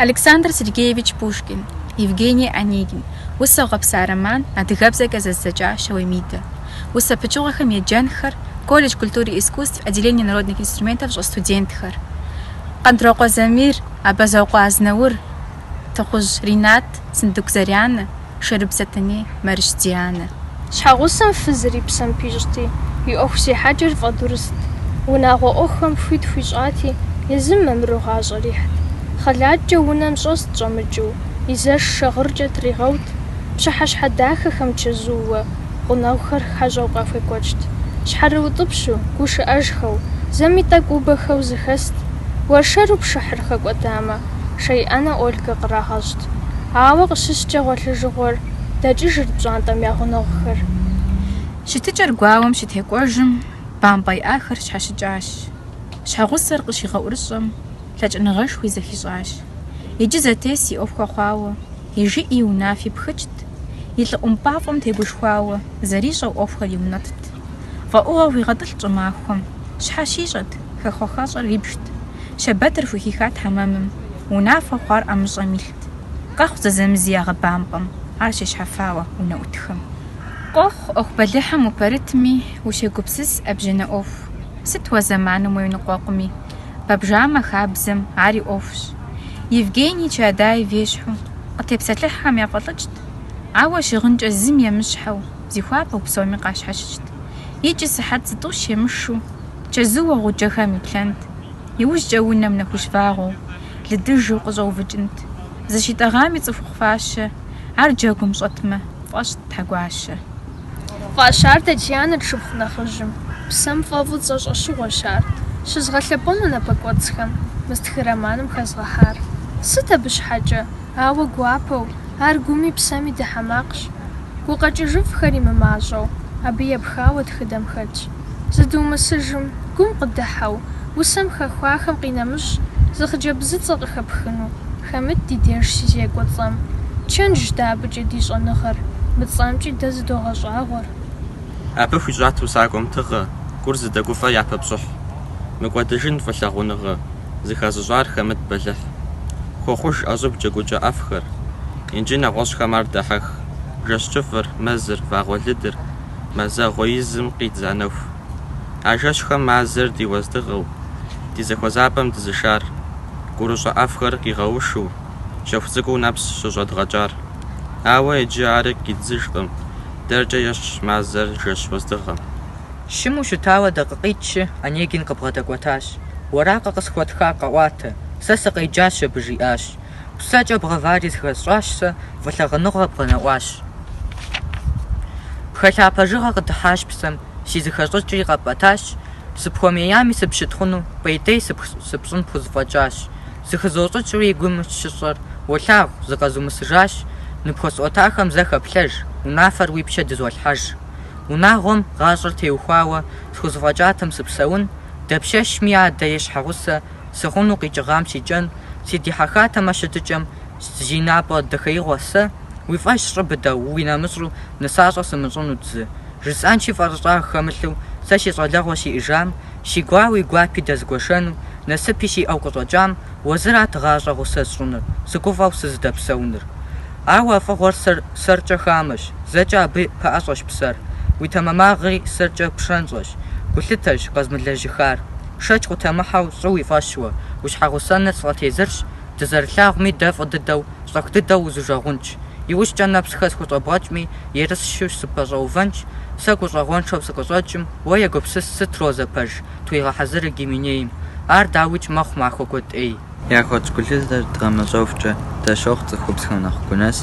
Александр Сергеевич Пушкин, Евгений Онегин, Усэу гъэпса роман, адыгэбзэкӏэ зэзыдзэкӏа Щауей Мидэ. Усэ пычыгъуэхэм еджэнхэр, колледж культуры и искусств, отделение народных инструментов щӏэс студентхэр. Къандрокъуэ Замир, Абазокъуэ Азнаур, Тыхъужь Ринат, Сындыку Зарянэ. Шэрыб Сэтэней, Мэрыщ Дианэ. Щхьэгъусэм фызыр и псэм пищӏти, и ӏуэху зехьэкӏэр фӏэдурыст. Унагъуэ ӏуэхухэм хуит хуищӏати, езым мамыру гъащӏэр ихьт. Хъэлаткӏэ унэм щӏэст щӏэмыкӏыу, и зэш шагъыркӏэ тригъэут, пщыхьэщхьэ дахэхэм чэзууэ, гъунэгъухэр хьэщӏэу къахуекӏуэкӏт. Щхьэрыутӏыпщу, гушыӏэжхэу, зэми тӏэкӏу убэхэу зыхэст. Уэршэру пшыхьыр хэкӏуэтамэ, шей ӏэнэ Ольгэ кърагъэщӏт. къыщыхъурт, ауэ къыщыскӏэ гъуэлъыжыгъуэр дэкӏыжырт пщӏантӏэм я гъунэгъухэр. Щытыкӏэр гуауэм щытекӏуэжым, бампӏэ иӏахэр щхьэщыкӏащ. Щхьэгъусэр къыщигъэӏурыщӏэм, лъэкӏыныгъэшхуи зэхищӏащ. Иджы зэтес и ӏуэхухэр хъуауэ, и жыӏи унафи пхыкӏт, и лӏы ӏумпӏафӏэм тегушхуауэ, зэрищӏэу ӏуэхухэр иунэтӏт. Фӏэӏугъэ хуигъэтӏылът щӏымахуэм, щхьэ щищӏэт? Хэхъуэ-хэщӏыр ибжт. Щэбэтыр хухихат хьэмэмым. Унафэу хъуар ӏэмыщӏэм илът. Къэхъут зэзэмызи ягъэбампӏэм, ар щещхьэфауэ унэӏутхэм. Къохъу, ӏуэху бэлыхьым упэрытми, ущегупсыс ӏэбжьэнэ ӏуэху. Сыт уэ зэманым уеныкъуэкъуми? Пабжамэ хабзэм, ари ӏуэхущ. Евгений Чаадаев ещхьу, къытепсэлъыхьхэм яфӏэлӏыкӏт, ауэ щыгъынкӏэ зым емыщхьэу, зихуапэу псоми къащхьэщыкӏт. Икӏи сыхьэт зытӏущ емышу. Чэзууэ гъуджэхэм иплъэнт. Иужькӏэ унэм нэхущ вагъуэу, лыдыжу къыщӏэувыкӏынт. Зыщитӏэгъами цӏыхухъу фащэ, ар джэгум щӏэтмэ, пфӏэщӏт тхьэгуащэ. Фӏащар Татьянэт шыпхъу нэхъыжьым. Псэм фӏэфӏу цӏэ щӏэщыгъуэщ ар. Щызгъэлъэпӏэну напэкӏуэцӏхэм мы стхы романым хэзгъэхьар. Сыт абы щхьэкӏэ, ауэ гуапэу, ар гуми псэми дыхьэ макъщ. Гукъэкӏыжыфӏхэри мымащӏэу, абы епхауэ тхыдэм хэтщ. зыдумысыжым, гум къыдыхьэу, усэм хэхуахэм къинэмыщӏ, зы хъыджэбзыцӏэ къыхэпхыну, хэмыт ди деж щызекӏуэ цӏэм. Чэнжщ дэ абыкӏэ ди щӏэныгъэр, мы цӏэмкӏи дэ зыдогъэщӏагъуэр. Абы хуищӏат усакӏуэм тыгъэ, гур зыдэгуфӏэ япэ пщӏыхь. Мыкӏуэдыжын фӏы лъагъуныгъэ, зыхэзыщӏар хэмыт бэлыхь. Хуохъуж ӏэщӏыб джэгукӏэ ӏэфӏхэр, инджы нэгъуэщӏхэм ар дахьэх, жэщ кӏыфӏыр, мэзыр, вагъуэлыдыр, Мазэгъуэ изым къидза нэху. А жэщхэм мазэр ди уэздыгъэу, ди зэхуэзапӏэм дызышар, гурыщӏэ ӏэфӏхэр къигъэушу, щэху цӏыкӏуу нэпс щыщӏэдгъэкӏар. Ауэ иджы ар кидзыжкъым, дэркӏэ ещхьщ мазэр жэщ уэздыгъэм. Щыму щытауэ дакъикъитӏщи, Онегин къыбгъэдэкӏуэтащ. Уэракъэ къысхуэтхар къэӏуатэ, сэ сыкъеджащ абы, жиӏащ. Псэкӏэ бгъэвари зыхэсщӏащ сэ, фӏылъагъуныгъэ бгъэнэӏуащ. Пхэлъа пэжыгъэ къыдыхьащ псэм, си зыхэщӏыкӏри къэпӏэтащ, сыпхуэмеями сыпщытхъуну, пӏейтей сыпщӏын пхузэфӏэкӏащ. Зыхызощӏыкӏри и гум щыщӏэр, уолъагъу, зыкъэзумысыжащ, ныпхуэсӏуэтахэм зэ хэплъэж, унафэр уи пщэ дызолъхьэж. Унагъуэм гъащӏэр теухуауэ схузэфӏэкӏатэм сыпсэун, дапщэщми адэ е щхьэгъусэ Сыхъуну къикӏыгъам си кӏэн, Сыдихьэхатэмэ щытыкӏэм, Зы напӏэдэхьеигъуэ сэ, Уи фӏэщ щӏы быдэу, уи нэмыщӏу, Нысащӏэ сымыщӏынут зы. Жысӏэнщи фӏэрыщӏагъ хэмылъу, Сэ си щӏалэгъуэ сиӏыжам, Си гуауи гуапи дэзгуэшэну, Насыпи сиӏэу къыщӏэкӏам, Уэ зырат гъащӏэ гъусэ сщӏыныр, Сыгуфӏэу сызыдэпсэуныр. Ауэ а фӏыгъуэр сэр, сэркӏэ хамэщ, Зэкӏэ абы пэӏэщӏэщ псэр, Уи тэмэмагъри сэркӏэ пщӏэншэщ, Гулъытэрщ къэзмылэжьыхар. Шэч къутэмыхьэу щӏы уи фӏэщ уэ, уи щхьэгъусэныр сфӏэтезырщ, дызэрылъагъуми дэ фӏы дыдэу, щӏэх дыдэу узужэгъунщ. Иужькӏэ нэпсхэ схущӏэбгъэкӏми, ерыщу сыпэщӏэувэнщ, сэ гущӏэгъуэншэу сыкъыщӏэкӏым, уэ егупсыс сыт розэ пэж, тхуигъэхьэзырыр Гименейм. Ар дауикӏ мэхъу махуэ куэд ӏей. Яхуэтщӏ гулъытэр дгъэмэщӏэхукӏэ, дащохъу цӏыхубзхэм нэхъ гунэс,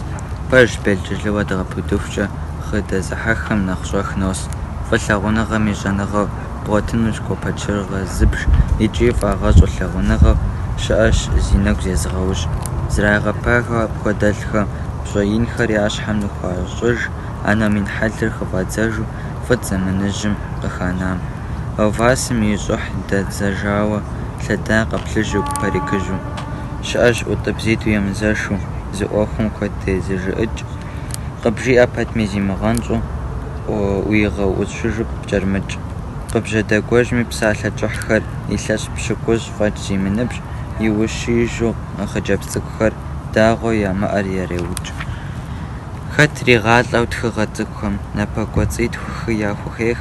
пэж белджылыуэ дгъэпудыхукӏэ, хъы дэзыхьэххэм нэхъ щӏэх нос. Фӏылъагъуныгъэм и щӏэныгъэу бгъуэтынущ гуапэчыргъэ зыбж икӏи фӏагъэщӏу лъагъуныгъэу щыӏэщ зи нэгу зезыгъэужь. Зрагъэпагэу апхуэдэлӏхэм пщӏэ инхэр я щхьэм ныхуащӏыж, а номин хьэлыр хыфӏадзэжу фӏыт, зэманыжьым къыханам. Ловласым и щӏыхь дэдзэжауэ лъэдакъэ плъыжьу, парикыжьу. Щыӏэщ ӏуитӏбзитӏу емызэшу, зы ӏуэхум куэд тезыжыӏыкӏ. Къыбжиӏэ пэтми зимыгъэнщӏу, ӏуигъэущыжу пкӏэрымыкӏ. Къыбжьэдэгуэжми псалъэ кӏыхьхэр, илъэс пщыкӏущ фӏэкӏ зимыныбжь, иущиижу хъыджэбз цӏыкӏухэр дагъуэу ямыӏэр ереукӏ. Хэт ригъалӏэу тхыгъэ цӏыкӏухэм напэкӏуэцӏитху-хы яхухех.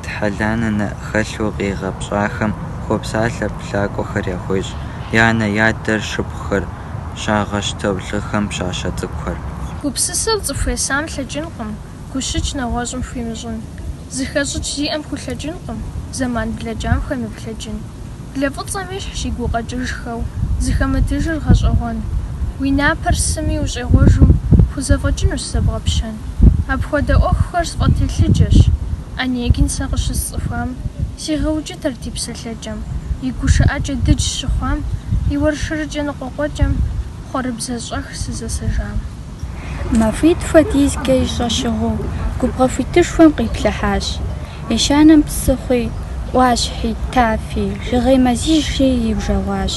Тхьэлъанэ нэ хэлъу къигъэпцӏахэм хуопсалъэ плъакӏуэхэр яхуещӏ, я анэ, я адэ шыпхъухэр, щагъэщтэу лӏыхэм пщащэ цӏыкӏухэр. Гупсысэу цӏыху есам лъэкӏынкъым, гущыкӏ нэгъуэщӏым хуимыщӏын. Зыхэщӏыкӏ зиӏэм хулъэкӏынкъым, зэман блэкӏам хуемыплъэкӏын. Блэ фӏыцӏэм ещхь си гукъэкӏыжхэу, зыхэмытыжыр гъэщӏэгъуэн. Уи напэр сыми ущӏегъуэжу, пхузэфӏэкӏынущ зэбгъэпщэн. Апхуэдэ ӏуэхухэр сфӏэтелъыджэщ. Онегин сэ къыщысцӏыхуам сегъэукӏытэрт и псэлъэкӏэм, и гушыӏэкӏэ дыдж щыхъуам, и уэршырыкӏэ ныкъуэкъуэкӏэм хъуэрыбзэщӏэх сызэсэжам. Махуитӏ хуэдизкӏэ и щӏэщыгъуэу, губгъуэ хуитышхуэм къиплъыхьащ. Ещанэм псыхъуи, ӏуащхьи, тафи, жыгей мэзыжьи иужэгъуащ.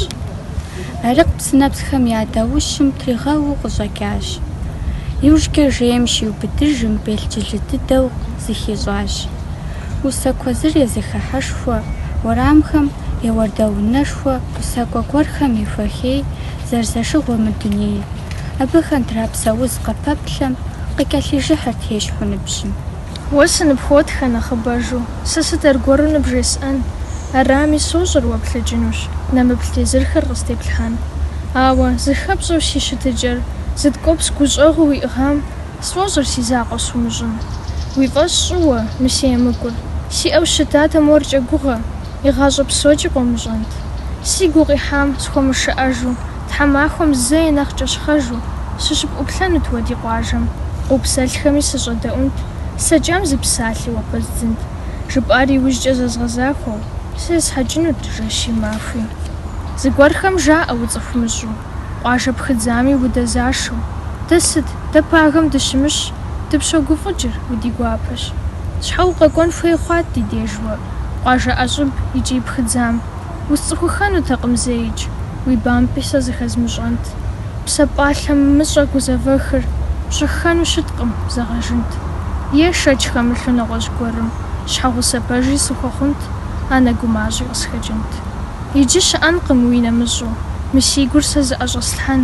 Арыкъ псынэпсхэм я даущым тригъэууэ къыщӏэкӏащ. Иужькӏэ жейм щиубыдыжым белджылы дыдэу зыхищӏащ. Усэ куэзыр е зэхыхьэшхуэ, уэрамхэм е уардэ унэшхуэ усакӏуэ гуэрхэм ехуэхей, зэрызэшыгъуэ мы дунейр, абы хандра псэуз къыпэплъэм къыкӏэлъыжыхьырт ещхьу ныбжьым. Уэ сыныпхуотхэ нэхъыбэжу, сэ сыт аргуэру ныбжесӏэн? Арами, сощӏэр уэ плъэкӏынущ, нэмыплъ тезырхэр къыстеплъхьэн. Ауэ, зыхэпщӏэу си щытыкӏэр, зыткӏуэпс гущӏэгъуу уиӏыгъам, сфӏощӏыр си закъуэ сумыщӏын. Уи фӏэщ щӏы уэ, мы си емыкӏур, сиӏэу щытатэм уэркӏэ гугъэ. Игъащӏэ псокӏи къомыщӏэнт. Си гу къихьам схуэмышыӏэжу, тхьэмахуэм зэи нэхъ кӏэщхъэжу, сыщыпӏуплъэнут уэ ди къуажэм, къыупсэлъхэми сыщӏэдэӏунт, слъэкӏам зы псалъи уэ пэздзынт, жыпӏар иужькӏэ зэзгъэзахуэу, сэ есхьэкӏынут, жэщи махуи. Зыгуэрхэм жаӏэ уцӏыхумыщӏу. Къуажэ пхыдзами удэзашэу. Дэ сыт? Дэ пагэм дыщымыщ, дыпщогуфӏыкӏыр, уди гуапэщ. Щхьэ укъэкӏуэн хуей хъуат ди деж уэ, къуажэ ӏэщӏыб икӏи пхыдзам? Усцӏыхуххэнутэкъым зеикӏ, уи бампӏи сэ зыхэзмыщӏэнт. Псэ пӏалъэмыщӏэ гузэвэхыр пщӏэххэну щыткъым, зэгъэжынт. Е шэч хэмылъу нэгъуэщӏ гуэрым щхьэгъусэ пэжи сыхуэхъунт, анэ гумащӏи къысхэкӏынт. Иджы щыӏэнкъым уи нэмыщӏу. Мы си гур сэ зыӏэщӏэслъхьэн.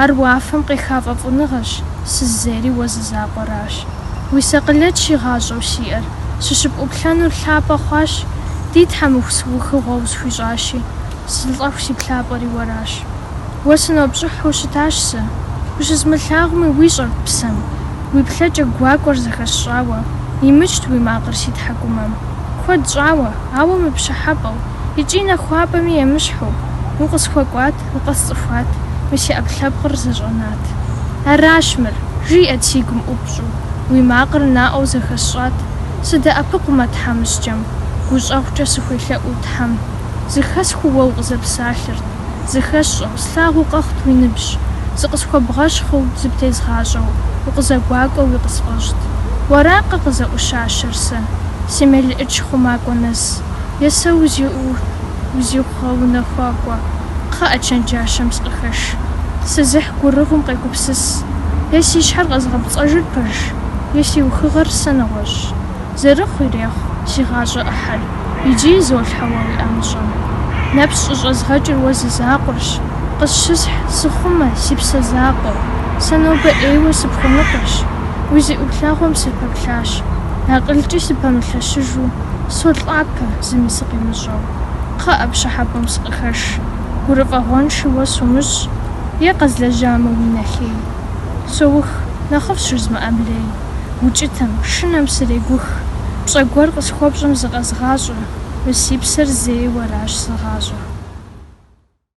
Ар уафэм къеха фӏэфӏыныгъэщ, сызейри уэ зы закъуэращ. Уи сакъылэт си гъащӏэу сиӏэр, сыщыпӏуплъэнур лъапӏэ хъуащ, Ди Тхьэм уэ си ухыгъэу усхуищӏащи, сылӏэху си плъапӏэри уэращ. Уэ сынопщӏыхьу щытащ сэ. Ущызмылъагъуми уищӏэрт псэм. Уи плъэкӏэ гуакӏуэр зэхэсщӏауэ, имыкӏт уи макъыр си тхьэкӏумэм. Куэд щӏауэ, ауэ мыпщӏыхьэпӏэу. Икӏи нахуапӏэми емыщхьу, Укъысхуэкӏуат, укъэсцӏыхуат, Мы си ӏэпкълъэпкъыр зэщӏэнат. Аращ мыр, жиӏэт си гум ӏупщӏу, Уи макъыр наӏуэу зэхэсщӏат. Сыдэӏэпыкъумэ тхьэмыщкӏэм, Гущӏэгъукӏэ сыхуелъэӏуу Тхьэм. Зыхэсхыу уэ укъызэпсалъэрт, Зыхэсщӏэу, слъагъуу къэхъут уи ныбжь. Зыкъысхуэбгъэщхъыу, зыптезгъащӏэу, Укъызэгуакӏуэуи къысфӏэщӏт. Уэракъэ къызэӏущащэр сэ, Си мелыӏыч хъумакӏуэ нэс? Есэ узиӏу, узихъу гъэунэхуакӏуэ, кхъыӏэ чэнджащэм сыкъыхэш. Сызыхь гурыгъум къегупсыс, е си щхьэр къэзгъэпцӏэжыр пэжщ, е си ухыгъэр сэ нэгъуэщӏщ. Зэрыхъу ирехъу, си гъащӏэ ӏыхьэр, иджы изолъхьэ уэ уи ӏэмыщӏэ. Нэпс щӏыщӏэзгъэкӏыр уэ зы закъуэрщ, къысщысхь, сыхъумэ, си псэ закъуэ, сэ нобэ ӏейуэ сыпхуэныкъуэщ. Уи зы ӏуплъэгъуэм сыпэплъащ, акъылкӏи сыпэмылъэщыжу. Солӏапэ, зыми сыкъимыщӏэу. Кхъыӏэ, пщӏыхьэпӏэм сыкъыхэш. Гурыфӏэгъуэнши уэ сумыщӏ. Е къэзлэжьамэ уи нэ лей. Соух, нэхъыфӏщ жызмыӏэм лей. Укӏытэм, шынэм сырегух. Пщӏэ гуэр къысхуэпщӏым зыкъэзгъащӏэ. Мы си псэр зей, уэращ зыгъащӏэ.